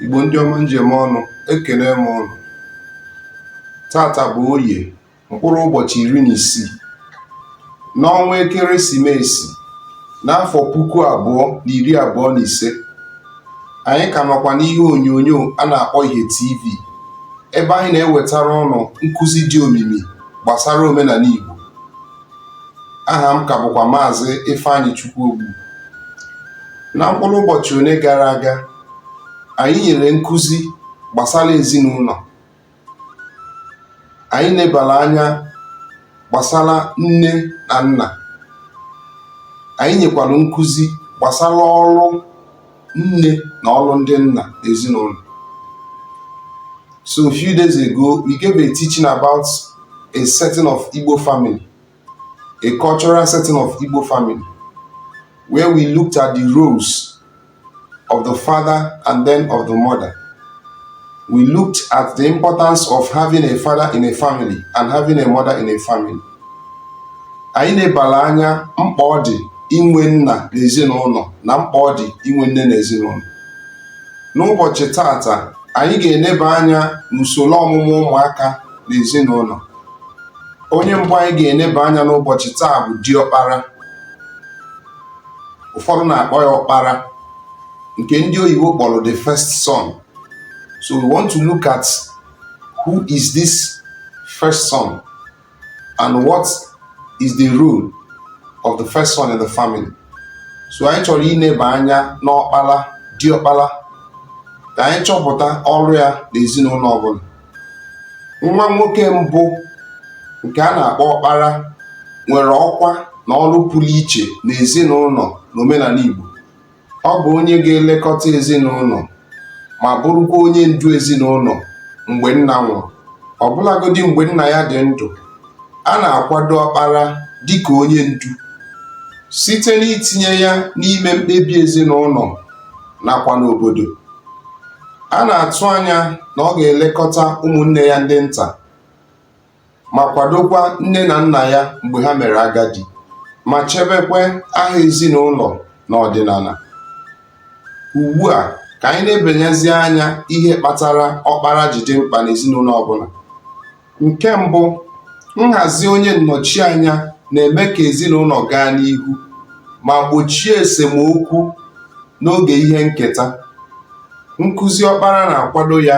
Igbo ndị ọma m ji eme ọnụ ekele m ụnụ taata bụ oye mkpụrụ ụbọchị iri na isii n'ọnwa ekeresimesi n'afọ puku abụọ na iri abụọ na ise anyị ka nọkwa n'ihe onyonyo a na-akpọ ihe tv ebe anyị na-ewetara ụnụ nkụzi dị omimi gbasara omenala Igbo aha m ka bụkwa maazị Ifeanyịchukwu Ogbu na mkpụrụ ụbọchị one gara aga anyị nyere nkụzi gbasara ezinụlọ anyị nebara anya gbasara nne na nna anyị nyekwara nkụzi gbasara ọrụ nne na ọrụ ndị nna ezinụlọ so a few days ago we gave a teaching about a setting of Igbo family a cultural setting of Igbo family where we looked at the roles of the father and then of the mother we looked at the importance of having a father in a family and having a mother in a family anyị nebara anya mkpa ọ dị inwe nna n'ezinụlọ na mkpa ọ dị inwe nne n'ezinụlọ n'ụbọchị taata anyị ga-eneba anya n'usoro ọmụmụ ụmụaka n'ezinụlọ onye mbụ anyị ga-eneba anya n'ụbọchị taa bụ diọkpara ụfọdụ na-akpọ ya ọkpara nke ndị oyibo kpọrọ the first son so we want to look at who is this first son and what is the role of the first son in the family so anyị chọrọ ineba anya n'ọkpara diọkpara ka anyị chọpụta ọrụ ya n'ezinụlọ ọbụla nwa nwoke mbụ nke a na-akpọ ọkpara nwere ọkwa na ọrụ pụrụ iche n'ezinụlọ n'omenala Igbo Ọ bụ onye ga-elekọta ezinụlọ ma bụrụkwa onye ndu ezinụlọ mgbe nna nwụrụ. Ọbụlagodi mgbe nna ya dị ndụ, a na-akwado ọkpara dị ka onye ndu site n'itinye ya n'ime mkpebi ezinụlọ nakwa n'obodo. A na-atụ anya na ọ ga-elekọta ụmụnne ya ndị nta. ma kwadokwa nne na nna ya mgbe ha mere agadi ma chebekwa aha ezinụlọ na ọdịnala. Ugbu a, ka anyị nebanyezie anya ihe kpatara ọkpara ji dị mkpa n'ezinụlọ ọbụla. Nke mbụ, nhazi onye nnọchianya na-eme ka ezinụlọ gaa n'ihu ma gbochie esemokwu n'oge ihe nketa. Nkụzi ọkpara na-akwado ya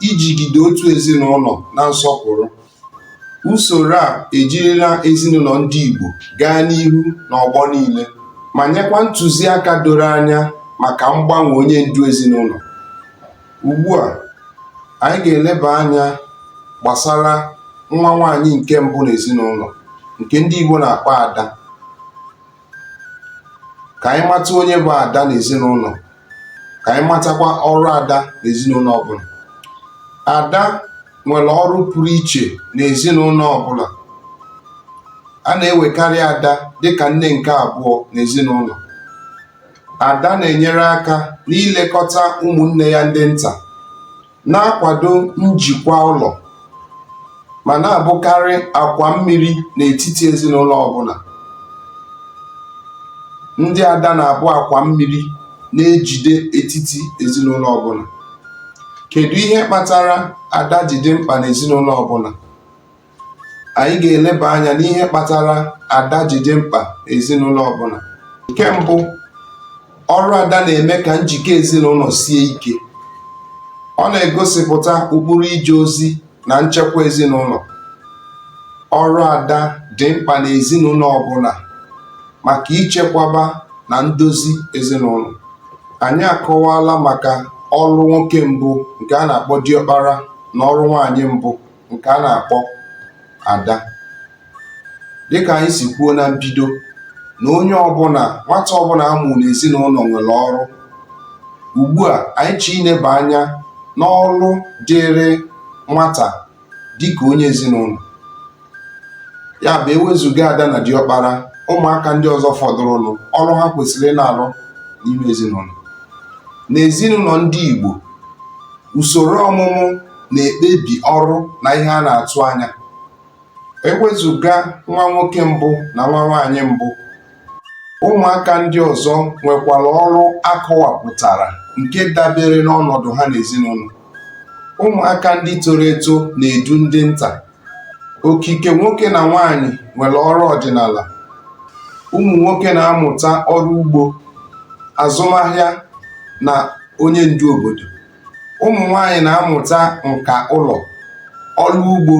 ijigide otu ezinụlọ na nsọpụrụ. Usoro a ejirila ezinụlọ ndị Igbo gaa n'ihu n'ọgbọ niile ma nyekwa ntụziaka doro anya maka mgbanwe onye ndu ezinụlọ. Ugbu a, anyị ga-eleba anya gbasara nwa nwaanyị nke mbụ n'ezinụlọ nke ndị Igbo na-akpọ ada. ka anyị mata onye bụ ada n'ezinụlọ ka anyị matakwa ọrụ ada n'ezinụlọ ọbụla ada nwere ọrụ pụrụ iche n'ezinụlọ ọbụla a na-ewekarị ada dịka nne nke abụọ n'ezinụlọ ada na-enyere aka n'ilekọta ụmụnne ya ndị nta na-akwado njikwa ụlọ ma na-abụkarị akwa mmiri n'etiti ezinụlọ ọbụla. Ndị ada na-abụ akwa mmiri na-ejide etiti ezinụlọ ọbụla. Kedu ihe kpatara ada ji dị mkpa n'ezinụlọ ọbụla? anyị ga-eleba anya n'ihe kpatara ada ji dị mkpa n'ezinụlọ ọbụla nke mbụ ọrụ ada na-eme ka njikọ ezinụlọ sie ike ọ na-egosipụta ụkpụrụ ije ozi na nchekwa ezinụlọ ọrụ ada dị mkpa n'ezinụlọ ọbụla maka ichekwaba na ndozi ezinụlọ anyị akọwala maka ọrụ nwoke mbụ nke a na-akpọ diọkpara na ọrụ nwaanyị mbụ nke a na-akpọ ada dịka anyị si kwuo na mbido na onye ọbụla nwata ọbụla a mụ n'ezinụlọ nwere ọrụ ugbu a anyị chọọ ineba anya n'ọrụ dịrị nwata dịka onye ezinụlọ ya bụ ewezuga ada na diọkpara ụmụaka ndị ọzọ fọdụrụnụ ọrụ ha kwesịrị ịna-arụ n'ime ezinụlọ n'ezinụlọ ndị Igbo usoro ọmụmụ na-ekpebi ọrụ na ihe a na-atụ anya. E wezụga nwa nwoke mbụ na nwa nwaanyị mbụ, ụmụaka ndị ọzọ nwekwara ọrụ a kọwapụtara nke dabere n'ọnọdụ ha n'ezinụlọ. Ụmụaka ndị toro eto na-edu ndị nta. Okike nwoke na nwaanyị nwere ọrụ ọdịnala. Ụmụ nwoke na-amụta ọrụ ugbo, azụmahịa na onye ndu obodo. ụmụ nwanyị na-amụta nka ụlọ ọrụ ugbo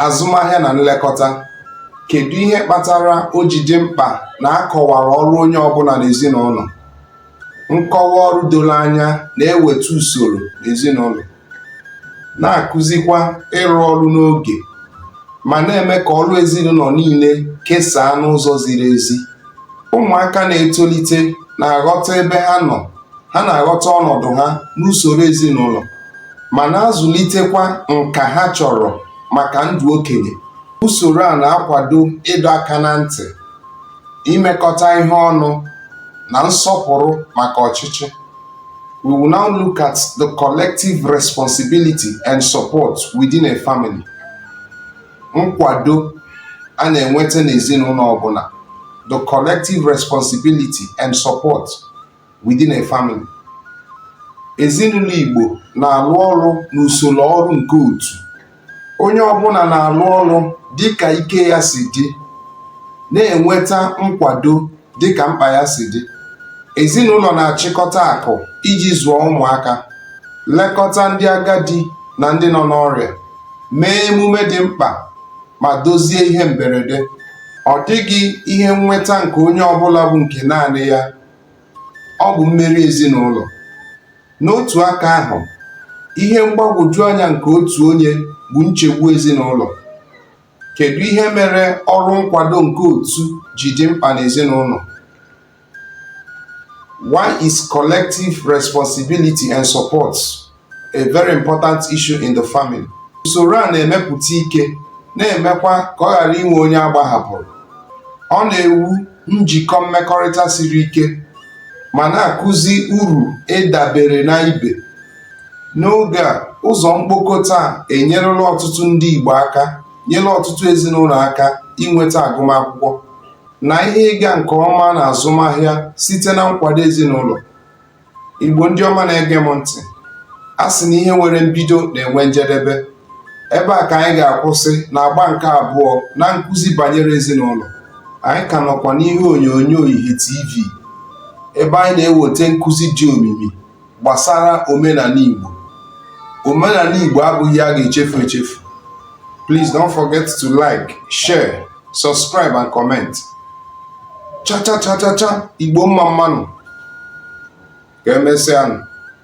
azụmahịa na nlekọta kedu ihe kpatara o ji dị mkpa na a kọwara ọrụ onye ọbụla n'ezinụlọ nkọwa ọrụ doro anya na-eweta usoro n'ezinụlọ na-akụzikwa ịrụ ọrụ n'oge ma na-eme ka ọrụ ezinụlọ niile kesaa n'ụzọ ziri ezi Ụmụaka na-etolite na-aghọta ebe ha nọ, ha na-aghọta ọnọdụ ha n'usoro ezinụlọ, ma na-azụlitekwa nka ha chọrọ maka ndụ okenye. Usoro a na-akwado ịdọ aka na ntị, imekọta ihe ọnụ, na nsọpụrụ maka ọchịchị. We will now look at the collective responsibility and support within a family. nkwado a na-enweta n'ezinụlọ ọbụla the collective responsibility and support within a family ezinụlọ Igbo na-alụ ọrụ n'usoro ọrụ nke otu onye ọbụla na-alụ ọrụ dịka ike ya si dị na-enweta nkwado dị ka mkpa ya si dị. Ezinụlọ na-achịkọta akụ iji zụọ ụmụaka, lekọta ndị agadi na ndị nọ n'ọrịa, mee emume dị mkpa, ma dozie ihe mberede. Ọ dịghị ihe nnweta nke onye ọ bụla bụ nke naanị ya, ọ bụ mmeri ezinụlọ. N'otu aka ahụ, ihe mgbagwoju anya nke otu onye bụ nchegbu ezinụlọ. Kedu ihe mere ọrụ nkwado nke otu ji dị mkpa n'ezinụlọ? Why is collective responsibility and support a very important issue in the family? Usoro a na-emepụta ike na-emekwa ka ọ ghara inwe onye a gbahapụrụ. Ọ na-ewu njikọ mmekọrịta siri ike ma na-akụzi uru ịdabere na ibe. N'oge a, ụzọ mkpokọta a enyerela ọtụtụ ndị Igbo aka nyere ọtụtụ ezinụlọ aka inweta agụmakwụkwọ na ihe ịga nke ọma na azụmahịa site na nkwado ezinụlọ. Igbo ndị ọma na-ege m ntị, a sị na ihe nwere mbido na-enwe njedebe. Ebe a ka anyị ga-akwụsị na agba nke abụọ na nkụzi banyere ezinụlọ. Anyị ka nọkwa n'ihe onyonyo Ihe TV ebe anyị na-eweta nkụzi dị omimi gbasara omenala Igbo omenala Igbo abụghị a ga-echefu echefu please don't forget to like share subscribe and comment cha cha cha cha cha Igbo mma mma nụ ka emesịa